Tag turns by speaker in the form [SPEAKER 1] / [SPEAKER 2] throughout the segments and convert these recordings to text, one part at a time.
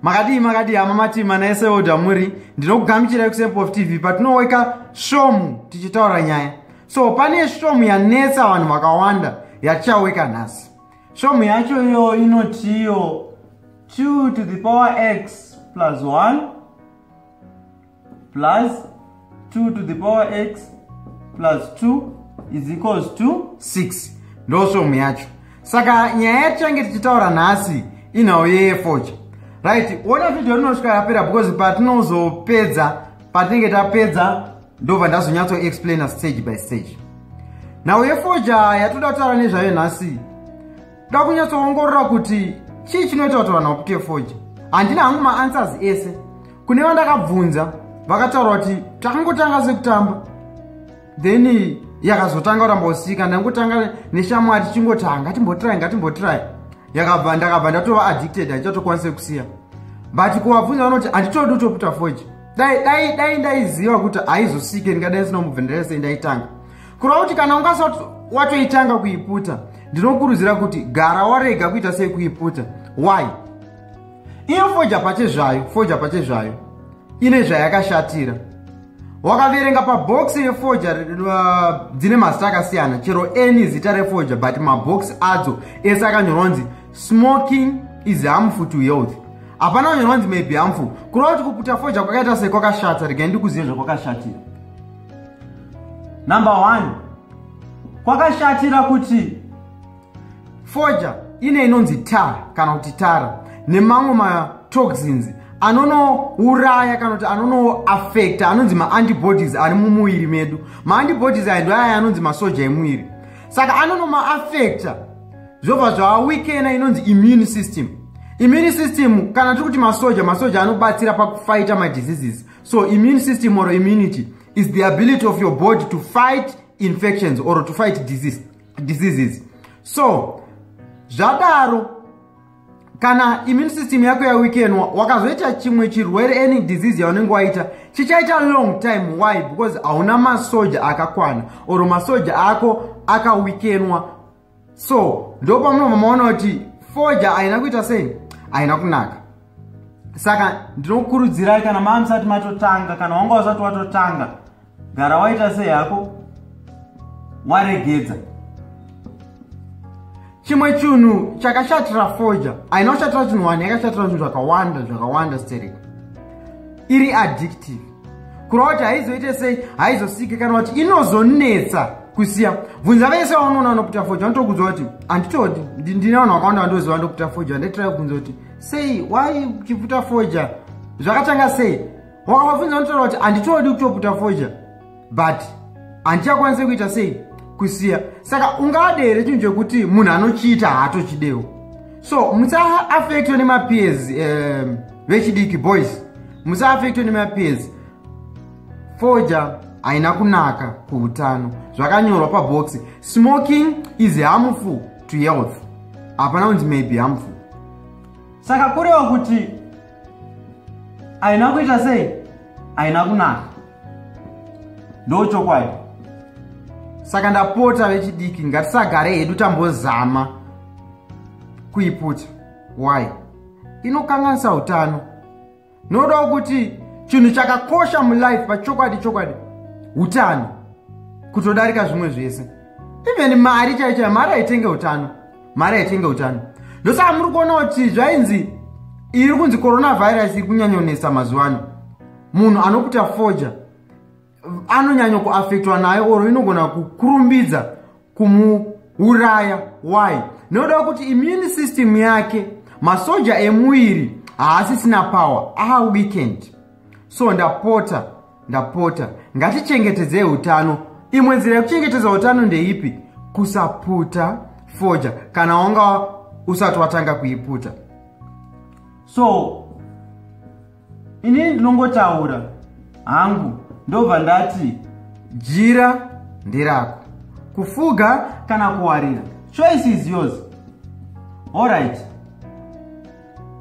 [SPEAKER 1] makadii makadii hama matima naese oda muri ndinokugamuchirai kusempof tv patinoweka svomu tichitaura nyaya so pane svomu yanetsa vanhu vakawanda yatichaweka nhasi svomu yacho iyo inotiyo 2 to the power x plus 1 plus 2 to the power x plus 2 is equals to 6 ndosvomu yacho saka nyaya yatichange tichitaura nhasi inhau yeyefocha right ona video rinosvika rapera because patinozopedza patinenge tapedza ndobva ndazonyatso explaina stage by stage nhau yefocha yatoda kutaura nezvayo nhasi Kuda kunyatsoongorora kuti chii chinoita kuti vanhu vapuke foji. Handina hangu maanswers ese. Kune vandakabvunza vakataura kuti takangotanga sekutamba then yakazotanga kuramba usika ndangotanga neshamwari tichingotanga timbotry ngatimbotry yakabva ndakabva ndatova addicted haichatokwanise kusiya but kuvabvunza vanoti handitodi utoputa foji dai dai dai ndaiziva kuti haizosike ndingadai sina mubvenderese ndaitanga kureva kuti kana ungasati watoitanga kuiputa ndinokurudzira kuti gara warega kuita sei kuiputa why iyo foja pache zvayo foja pache zvayo ine zvayakashatira wakaverenga pabhoksi yefoja uh, dzine mazita akasiyana chero any zita refoja but mabhoksi adzo ese akanyorwa nzi smoking is harmful to health hapana kunyorwa nzi maybe harmful kureva kuti kuputa foja kwakaita sei kwakashata regai ndikuzive zvakwakashatira number one kwakashatira kuti foja ine inonzi tar kana kuti tara nemamwe matoxins anonouraya kana kuti anonoafekta anonzi maantibodies ari mumuviri medu maantibodies aya ndo aya anonzi masoja emuviri saka anonomaafekta zvobva zvawikena inonzi immune system immune system kana tiri kuti masoja masoja anobatsira pakufaita madiseases so immune system or immunity is the ability of your body to fight infections or to fight disease, diseases so zvadaro kana immune system yako yawikenwa wakazoita chimwe chirwere any disease yaunenge waita chichaita long time why because hauna masoja akakwana or masoja ako akawikenwa so ndo pamunobva maona kuti foja haina kuita sei haina kunaka saka ndinokurudzirai kana maa musati matotanga kana wanga usati watotanga gara waita sei hako waregedza chimwe chinhu chakashatira foja haina kushatira chinhu wani yakashatira zvinhu zvakawanda zvakawanda sterek iri addictive kurova kuti haizoite sei haizosike kana kuti inozonetsa kusiya bvunza vese vaunoona vanoputa foja vanotokudzwa kuti handitodi ndine vanhu vakawanda vandoziva vandoputa foja handitrai kubvunza kuti sei why uchiputa foja zvakatanga sei wakavabvunza vanotaura kuti handitodi kutoputa foja but handichakwanise kuita sei kusiya saka ungade here chinhu chekuti munhu anochiita haatochidewo so musaafektwe nemapeers um, vechidiki boys musaafektwe nemapenzi foja haina kunaka kuutano zvakanyorwa pabhoxi smoking is harmful to health hapana kunzi maybe harmful saka kureva kuti haina kuita sei haina kunaka ndo chokwadi saka ndapota vechidiki ngatisagare hedu tambozama kuiputa why inokanganisa utano nodawo kuti chinhu chakakosha mulife pachokwadi chokwadi utano kutodarika zvimwe zvese even mari chaiyo chaiyo mari haitenge utano mari haitenge utano ndosaka muri kuona kuti zvainzi iri kunzi coronavirus iri kunyanyonesa mazuva ano munhu anokuta foja anonyanya kuafektwa nayo or inogona kukurumbidza kumuuraya why noda kuti immune system yake masoja emuviri haasisina power a weekend so ndapota ndapota ngatichengetedzei utano imwe nzira yekuchengetedza utano ndeipi kusaputa foja kana wanga usati watanga kuiputa so inini ndinongotaura hangu ndobva ndati jira nderako kufuga kana kuwarira choice is yours allright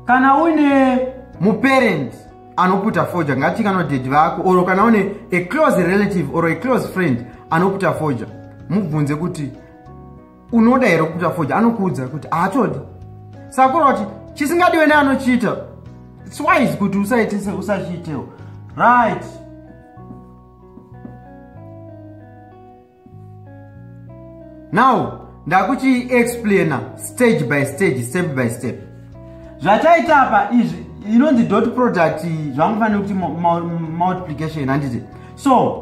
[SPEAKER 1] kana uine muparent anoputa foja ngati kana dedi vako or kana une a close relative or a close friend anoputa foja mubvunze kuti unoda here kuita foja anokuudza kuti haatodi sakura kuti chisingadiwe neanochiita its wise kuti usaitise usachiitewo right now ndakuti explaina stage by stage step by step zvachaita apa izvi inonzi dot product zvamufanira kuti multiplication handiti so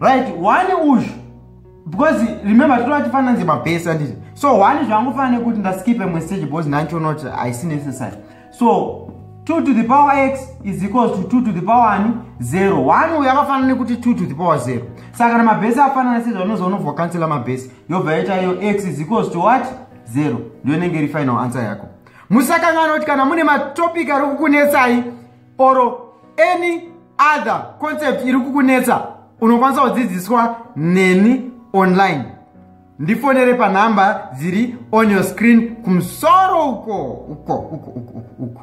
[SPEAKER 1] right one uzvu because remember totova tifanira nzi mabase anditi so one zvangofanira nekuti ndaskipe mwe stage because nacho not haisi necessary so 2 to the power x is equals to 2 to the power ani 0 1 uyo akafanana nekuti 2 to the power 0 saka kana mabhesi afanana sezvaunoziva unobva kansela mabhesi yobva yaita iyo x is equals to what 0 ndiyo inenge iri final answer yako musakanganoti kana mune matopic ari kukunetsai or any other concept iri kukunetsa unokwanisa kudzidziswa neni online ndifonere panhamba dziri on your screen kumusoro uko uko uko uko uko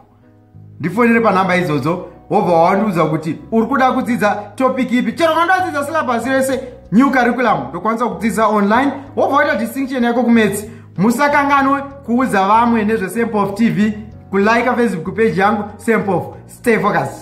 [SPEAKER 1] ndifonere panhamba idzodzo wobva wawandiudza kuti uri kuda kudzidza topic ipi chero kana ndadzidza silabhasi rese new curriculum ndokwanisa kudzidza online wobva waita distinction yako kumetsi musakanganwe kuudza vamwe nezvesempof tv kulike facebook page yangu sempof stay focus